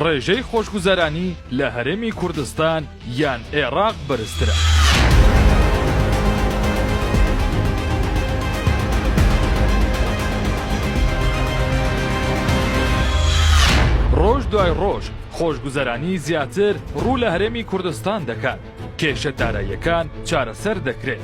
ڕێژەی خۆشگوزەرانی لە هەرێمی کوردستان یان ئێراق بەرزترە؟ ڕۆژ دوای ڕۆژ خۆشگوزەرانی زیاتر ڕوو لە هەرێمی کوردستان دەکات کێشە داراییەکان چارەسەر دەکرێت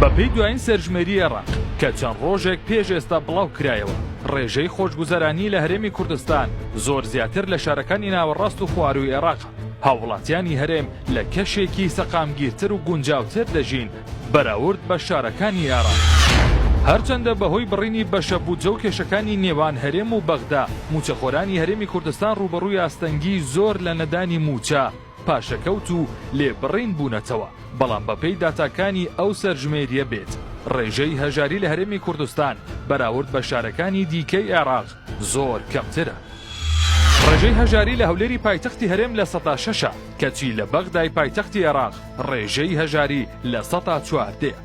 بەپێی دوایین سەرژمێری عێراق کە چەند ڕۆژێک پێش ئێستا بڵاوکرایەوە، ڕێژەی خۆشگوزەرانی لە هەرێمی کوردستان زۆر زیاتر لە شارەکانی ناوەڕاست و خوارووی عێراقە، هاووڵاتیانی هەرێم لە کەشێکی سەقامگیرتر و گونجاوتر دەژین بەراورد بە شارەکانی عێراق. هەرچەندە بەهۆی بڕینی بەشە بودجە و کێشەکانی نێوان هەرێم و بەغدا، مووچەخۆرانی هەرێمی کوردستان ڕووبەڕووی ئاستەنگیی زۆر لە نەدانی مووچە، پاشەکەوت و لێبڕین بوونەتەوە، بەڵام بەپێی داتاکانی ئەو سەرژمێرییە بێت، ڕێژەی هەژاری لە هەرێمی کوردستان بەراورد بە شارەکانی دیکەی عێراق زۆر کەمترە. ڕێژەی هەژاری لە هەولێری پایتەختی هەرێم لە سەدا شەشە، کەچی لە بەغدای پایتەختی عێراق ڕێژەی هەژاری لە سەدا چواردەیە.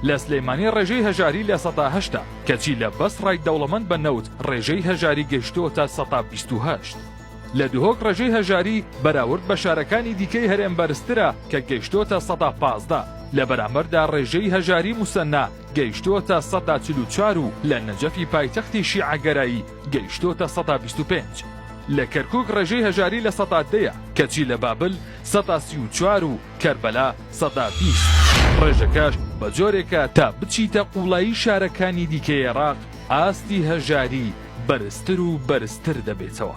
لە سلێمانی ڕێژەی هەژاری لە سەدا هەشتە، کەچی لە بەسڕای دەوڵەمەند بە نەوت ڕێژەی هەژاری گەیشتووەتە سەدا بیست و هەشت. لە دهۆک ڕێژەی هەژاری بەراورد بە شارەکانی دیکەی هەرێم بەرزترە کە گەیشتۆتە سەدا پازدە، لە بەرامبەردا ڕێژەی هەژاری موسەننا گەیشتۆتە سەدا چل و چوار و لە نەجەفی پایتەختی شیعەگەرایی گەیشتۆتە سەدا بیست و پێنج. لە کەرکوک ڕێژەی هەژاری لە سەدا دە یە، کەچی لە بابل سەدا سی و چوار و کەربەلا سەدا بیست. ڕێژەکەش بە جۆرێکە تا بچیتە قوڵایی شارەکانی دیکەی عێراق ئاستی هەژاری بەرزتر و بەرزتر دەبێتەوە.